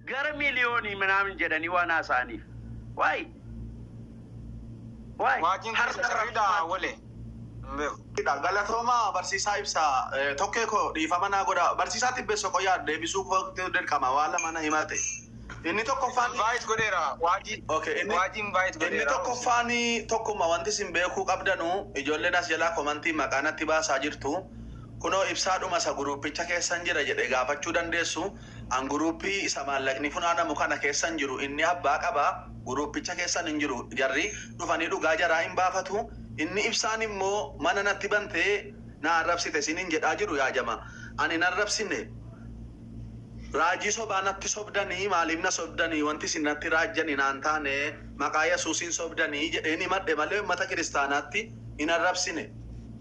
Gara miliyoonii minaamin jedhanii waan haasa'aniif. Why? Why? Waajiin Harka keessa sirriidha Rabbumaatti. wale. Hin beeku. Dha. Galatooma barsiisaa ibsa eh, tokkee koo dhiifama naa godha barsiisaa tibbeessa qoyaa deebisuu kootu dirqama waa lama na himate inni tokkoffaan Invite godheera. Waajii. Okay, inni- Waajii invite inni godheera. tokkoffaan tokkuma wanti isin beekuu qabdanu ijoolleen as jalaa komantii maqaa natti baasaa jirtu Kunoo ibsaa dhuma isa guruuppicha keessan jira jedhe gaafachuu dandeessu. An guruuppii isa maallaqni funaanamu kana keessan jiru inni abbaa qaba, guruuppicha keessan hin jiru. Jarri dhufanii dhugaa jaraa hin baafatu. Inni ibsaan immoo mana natti bantee na arrabsite siin hin jedhaa jiru yaa jama. An hin arrabsine. Raajii sobaa natti sobdanii maaliif na sobdanii wanti isin natti raajjani naan taane maqaa yasuusiin sobdanii jedheen himadhe malee ummata kiristaanaatti hin arrabsine.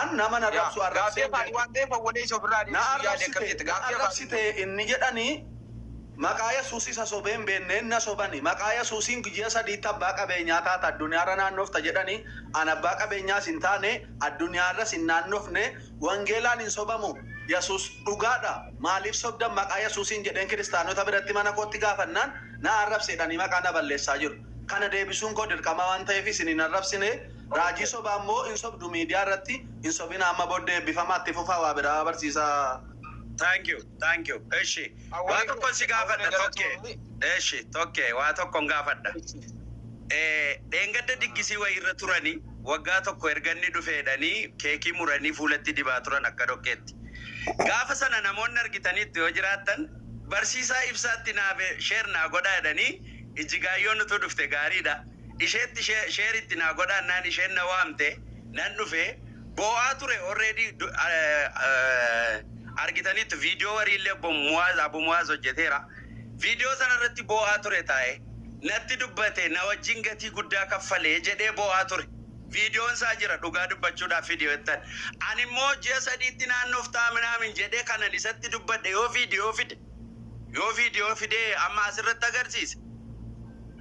An nama na rabsu arrabseen beeku. Na arrabsite, na arrabsite inni jedhani maqaa yesuus isa sobee hin beenneen na sobani maqaa yesuusiin guyyaa sadiitti abbaa qabeenyaa taata adduniyaarra naannofta jedhani an abbaa qabeenyaas hin taane adduniyaarras hin naannofne wangeelaan hin sobamu yesuus dhugaadha maaliif sobdan maqaa yesuusiin jedheen kiristaanota biratti mana kootti gaafannaan na arrabse jedhanii maqaa na balleessaa jiru kana deebisuun koo dirqama waan ta'eef isin hin arrabsine Raajii sobaa immoo hin sobdu miidiyaa irratti hin sobina amma boddee ebbifamaa itti fufaa waa biraa barsiisaa. Thank you thank you eshi waa tokkon si gaafadha tokke eshi tokke waa tokkon gaafadha ee dheengadda diggisii wayii irra turani waggaa tokko erga inni dhufe jedhani keekii muranii fuulatti dibaa turan akka dhoqqeetti gaafa sana namoonni argitaniittu yoo jiraattan barsiisaa ibsaatti naaf share naa godhaa jedhanii ijjigaayyoon utuu dhufte gaariidha isheetti share itti naa godhaa naan isheen na waamte nan dhufe boo'aa ture already argitaniittu video wariillee obbo Muwaaz Abu Muwaaz hojjeteera video sana irratti boo'aa ture taa'e natti dubbate na wajjin gatii guddaa kaffalee jedhee boo'aa ture videon isaa jira dhugaa dubbachuudhaaf video ittan ani immoo ji'a sadiitti naannoof ta'a minaamin jedhee kanan isatti dubbadhe yoo video fide yoo video fidee amma asirratti agarsiise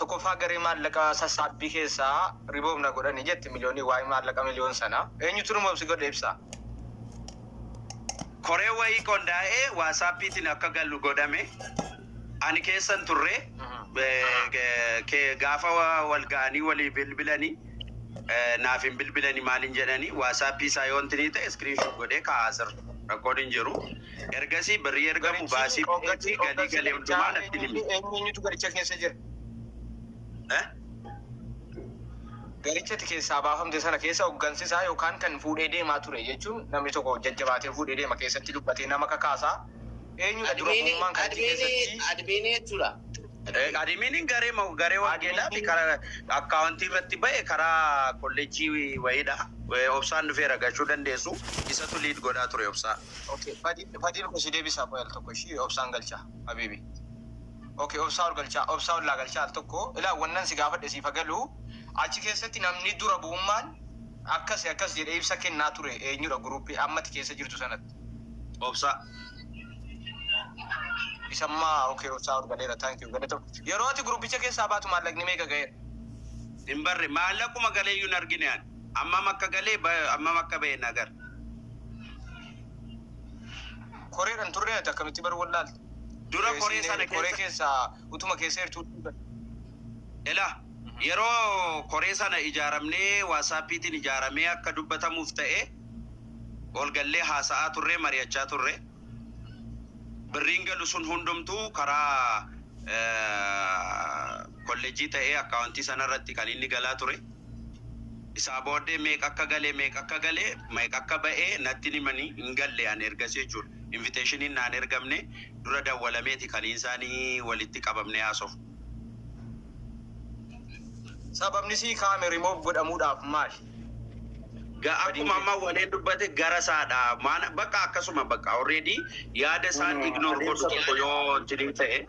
Tokkoffaa garee maallaqa sassaabbii keessaa remove na godhani jetti miliyoonii waa'ee maallaqa miliyoon sana eenyutu remove si godhe ibsaa. Koree wayii qondaa'e waasaapiitiin akka galu godhame ani keessa hin turre gaafa wal ga'anii walii bilbilani naaf hin bilbilani maal hin jedhani waasaapii isaa yoo intinii ta'e screenshot godhee kaa'aa sir rakkoon hin jiru. Ergasii birrii ergamu baasii pooketii galii gale hundumaa natti himi. Eenyu eenyu eenyutu garicha keessa jira? Eh? Garicha ati keessaa baafamte sana keessa hoggansi isaa yookaan kan fuudhee deemaa ture jechuun namni tokko jajjabaatee fuudhee deema keessatti dubbatee nama kakaasa. Eenyudha dura Admiinii bu'ummaan kan achi admiinii keessatti admiinii jechuudha. Eh, Adimiiniin garee ma- garee wangeelaa fi karaa akkaawuntii irratti ba'e karaa kolleejjii wayiidha. Eh, Obsaan dhufeera gachuu dandeessu. Isatu liid godhaa ture obsaa. Ok fadil fadil ko si debisaa qoy al tokko ishii obsaan galchaa habibi ok obsaa ol galchaa obsaa ollaa galchaa al tokko ilaa wannan si gaafadhe siif hagaluu achi keessatti namni dura bu'ummaan akkasi akkas jedhe ibsa kennaa ture eenyudha guruuppii ammati keessa jirtu sanatti obsaa isammaa ok obsaa ol galeera thank you galata yeroo ati guruuppicha keessaa baatu maallaqni meeqa ga'eera Hin barre maallaquma galee iyyuu hin argine ani. Ammam akka galee ammam akka ba'e na gar. Koreedha hin turree ati akkamitti bar wallaalte? Dura Ee, koree siinee sana koree keessa- keessaa utuma keessa jirtuu dhiiga. Ela yeroo koree sana ijaaramnee waasaappiitiin ijaaramee akka dubbatamuuf ta'e olgallee haasa'aa turre mari'achaa turre. Birriin galu sun hundumtuu karaa eh, kollejjii ta'ee akkaawontii sanarratti kan inni galaa ture. Isaa booddee meeqa akka gale meeqa akka gale meeqa akka ba'e natti hin himani hin galle ani ergasii jechuudha. Inviteeshiniin naan ergamne dura dawwalameeti kan isaani walitti qabamnee haasofnu. Sababni sii kaame remove godhamuudhaaf maali? Ga- Akkuma amma waleen dubbate gara isaadha. Maana bakka akkasuma bakka already yaada isaan ignore godhu tokko yoo jirii ta'e.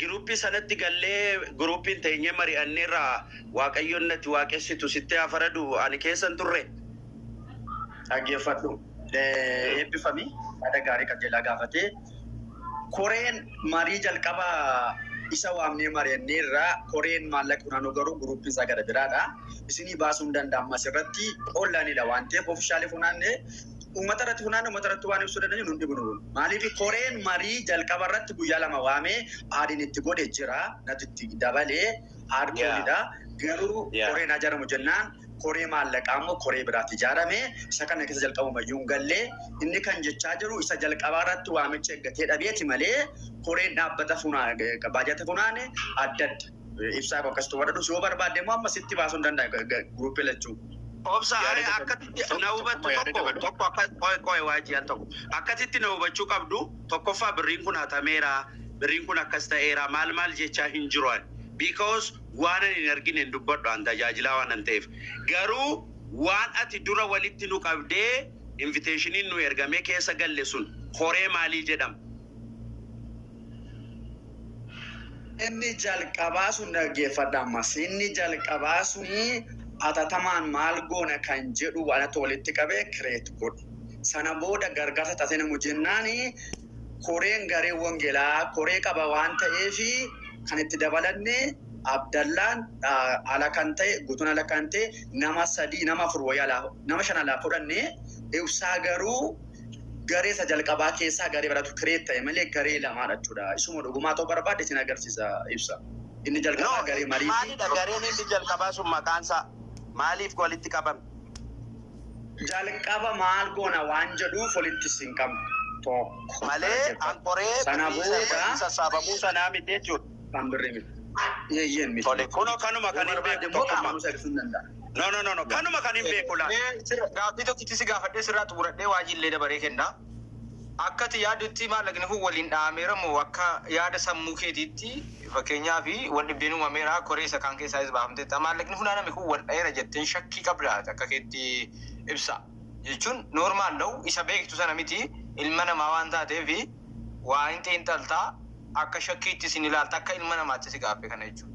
Giruuppii sanatti gallee guruuppiin teenyee mari'anneerra Waaqayyoon natti waaqessitu sitti haa faradu ani keessa hin turre. Dhaggeeffadhu. Eebbifami. Yaada gaarii qajeelaa gaafatee. Koreen marii jalqaba isa waamnee mari'anneerra koreen maallaqa funaanuu garuu guruuppiin isaa gara biraadha. Isinii baasuu hin danda'amu asirratti onlineedha waan ta'eef officially funaanne uummata irratti funaanne uummata irratti waan ibsuu dandeenyu nun dhibu nuun. Maaliif koreen marii jalqaba irratti guyyaa lama waamee aadiin itti godhe jira natti itti dabalee aad Yeah. koolidha. Garuu Yeah. koreen haa ijaaramu jennaan koree maallaqaa immoo koree biraatti ijaarame isa kana keessa jalqabuma iyyuu hin galle inni kan jechaa jiru isa jalqabaa irratti waamicha eeggatee dhabeeti malee koreen dhaabbata funaa baajata funaane adda adda. Ibsaa koo akkasitti warra dhus yoo barbaadde immoo amma sitti baasuu hin danda'a guruuppii lachuu. Obsa Yaada ani gad- akkatti tokko- na tokko hubattu yaada tokko dabalu. tokko akka qoe qoe waajii al tokko akkasitti na hubachuu qabdu tokkoffaa birriin kun hatameera birriin kun akkas ta'eera maal maal jechaa hin jiru ani because waan ani hin argine hin dubbadhu an tajaajilaa waan an ta'eef garuu waan ati dura walitti nu qabdee inviteeshiniin nu ergamee keessa galle sun koree maalii jedhama Inni jalqabaa sun dhaggeeffadha ammas. Inni jalqabaa suni atatamaan maal goona kan jedhu waan itti walitti qabe create godhi. Sana booda gargaarsa taatee namu jennaan koreen garee wangelaa koree qaba waan ta'eef kan itti dabalanne Abdallaan ala kan ta'e guutuun ala kan ta'e nama sadii nama afur wayii alaa nama shan alaa fudhanne ibsaa garuu garee isa jalqabaa keessaa garee baratu create ta'e malee garee lamaa dhachuudha. Isuma dhugumaa ta'uu barbaade isin agarsiisa ibsa. Inni jalqabaa No, garee marii fi maalidha gareen inni jalqabaa sun maqaan isaa maaliif walitti qabame? jalqaba maal goona waan jedhuuf walitti isin qabna. Tokko. Malee Dhaggeeffadha. ankoree Sana birrii booda- saddeetii sassaabamuu sanaa miti jechuudha. Afaan birrii miti. Eeyyeen miti. Tole kunoo kanuma kan hin beeku tokkummaa. No no no no kanuma kan hin beeku laata. Gaaffii tokkitti si gaafadhee sirraa xumuradhee waajjin illee dabaree kenna. Akkati yaadutti maallaqni kun waliin dha'ameera moo akka yaada sammuu keetiitti fakkeenyaaf wal dhibdeen uumameera koree isa kaan keessaa is baafamteetta. Maallaqni funaaname kun wal dha'eera jettee shakkii qabdaa akka keetti ibsa. Jechuun noormaal da'u isa beektu sana miti ilma namaa waan taateef waa hin xiinxaltaa. akka shakkiitti isin ilaalta akka ilma namaatti si gaaffe kana jechuun.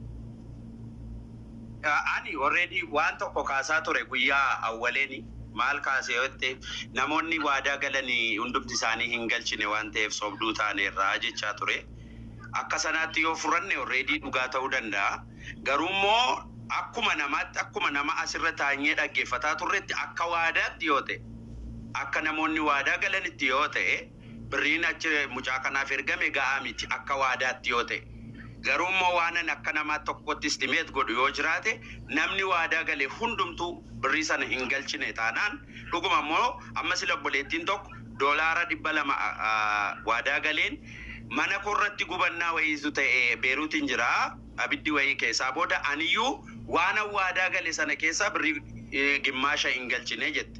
Ani already waan tokko kaasaa ture guyyaa awwaleeni maal kaase yoo jette namoonni waadaa galani hundumti isaanii hin galchine waan ta'eef sobduu taaneerra jechaa ture akka sanaatti yoo fudhanne already dhugaa ta'uu danda'a garuu immoo akkuma namaatti akkuma nama asirra taanyee dhaggeeffataa turretti akka waadaatti yoo ta'e akka namoonni waadaa galanitti yoo ta'e Birriin achi mucaa kanaaf ergame ga'aa miti akka waadaatti yoo ta'e. Garuu immoo waanan akka namaa tokkootti estimate godhu yoo jiraate namni waadaa gale hundumtuu birrii sana hin galchine taanaan dhuguma immoo amma sila obboleettiin tokko doolaara 200 waadaa galeen mana koorratti gubannaa wayiitu ta'e Beeruutiin jira abiddi wayii keessaa booda aniyyuu waanan waadaa gale sana keessaa birrii gimmaasha hin galchine jette.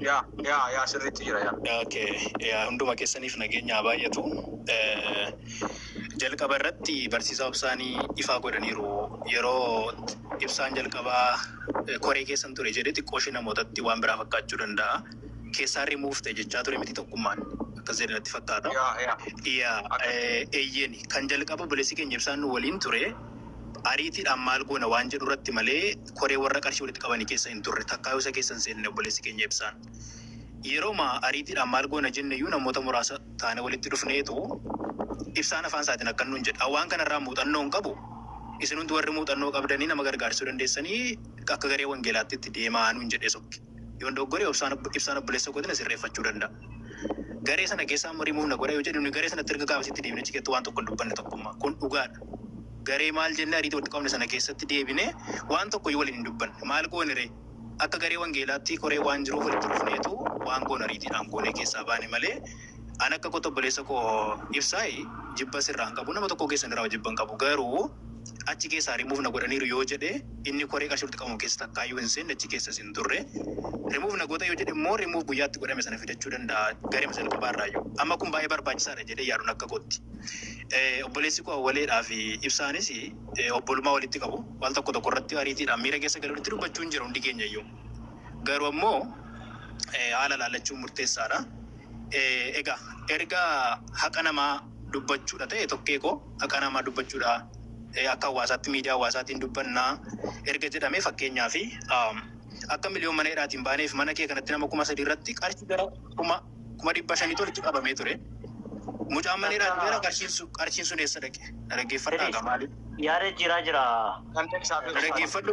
Yaa yaa yaa sirriitti jira yaa. Okay. Yaa hunduma keessaniif nageenya haa baay'atu. Eh, Jalqaba irratti barsiisaa obsaanii ifaa godhaniiru. Yeroo ibsaan jalqabaa eh, koree keessan ture jedhe xiqqoo ishee namootatti waan biraa fakkaachuu danda'a. Keessaa remove ta'e jechaa ture miti tokkummaan. Akkas jedhe natti fakkaata. Yaa yaa. Yaa, Akka- eh, eeyyeen kan jalqaba obboleessi keenya ibsaan nu waliin ture ariitiidhaan maal goona waan jedhu irratti malee koree warra qarshii walitti qabanii keessa hin turre. Takkaayyuu isa keessa hin seenne obboleessi keenya Ibsaan. Yeroma ariitiidhaan maal goona jenne iyyuu namoota muraasa taane walitti dhufneetu Ibsaan afaan isaatiin akkan nuun jedhe. An waan kana irraa muuxannoo hin qabu. Isin hundi warri muuxannoo qabdanii nama gargaarsuu dandeessanii akka garee wangeelaatti itti deemaa nuun jedhee sokke. Yoon dogoggore Ibsaan obboleessa kootiin na sirreeffachuu danda'a. Garee sana keessaa amma remove na godha yoo jedhu nuyi garee sanatti erga gaafas itti deebinee ciketti waan tokko hin dubbanne tokkummaa. Kun dhugaadha. Garee maal jenne ariitii walitti qabne sana keessatti deebinee waan tokko iyyuu waliin hin dubbanne. Maal goone ree? Akka garee wangeelaatti koree waan jiruuf walitti dhufneetu waan goone ariitiidhaan goonee keessaa baane malee an akka kootti obboleessa koo ibsaay jibba sirraan qabu nama tokkoo keessan irraa jibba hin qabu garuu achi keessaa remove na godhaniiru yoo jedhe inni koree qarshii walitti qabamu keessa takkaayyuu hin seenne achi keessas hin turre remove na goota yoo jedhe immoo remove guyyaa itti godhame sana fidachuu danda'a garee jalqabaa irraayyuu amma kun baay'ee barbaachisaadha jedhee yaaduun akka kootti Eh, obboleessi koo awwaleedhaa fi ibsaanis eh, obbolummaa walitti qabu waan tokko tokko irratti ariitiidhaan miira keessa galee walitti dubbachuu hin jira hundi keenya iyyuu garuu ammoo eh, haala ilaallachuun murteessaadha. Eh, Egaa erga haqa namaa dubbachuudha ta'e tokkee koo haqaa namaa dubbachuudha akka hawaasaatti miidiyaa hawaasaatiin dubbannaa erga jedhamee fakkeenyaa fi akka miliyoon mana hidhaatiin baaneef mana kee kanatti nama kuma sadii irratti qarshii gara kuma kuma dhibba shanii tolitti qabamee ture. Mucaan mana hidhaatiin gara qarshiin sun qarshiin sun eessa dhaqe? Dhaggeeffadhaa gamaa. Yaada jiraa jiraa. Dhaggeeffadhu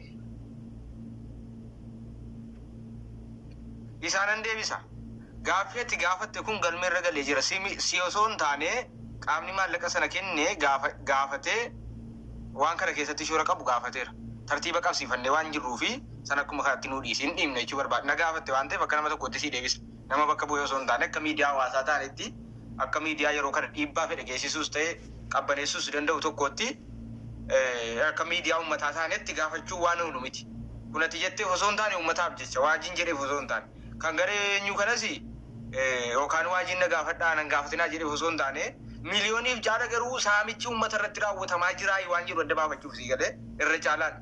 isaa nan deebisa. Gaaffii ati gaafatte kun galmee irra galee jira. Si, si osoo hin taane qaamni maallaqa sana kenne gaafa, gaafatee waan kana keessatti shoora qabu gaafateera. Tartiiba qabsiifannee waan jirruu fi sana akkuma kanatti nuu dhiisi hin dhiibne jechuu barbaada. Na gaafatte waan ta'eef akka nama tokkootti sii deebisa. nama bakka bu'ee osoo hin taane akka miidiyaa hawaasaa taanetti, akka miidiyaa yeroo kana dhiibbaa fedhe geessisuus ta'e qabbaneessuus danda'u tokkootti, akka miidiyaa uummataa taanetti gaafachuu waan oolu miti. Kun ati jetteef osoo hin taane uummataaf jecha, Waajiin jedheef osoo hin taane, kan garee eenyuu kanas yookaan Waajiin na gaafadhaa ana hin gaafatinaa jedheef osoo hin taane, miliyooniif caala garuu saamichi uummata irratti raawwatamaa jiraa waan jedhu adda baafachuuf sii gale irra caalaan.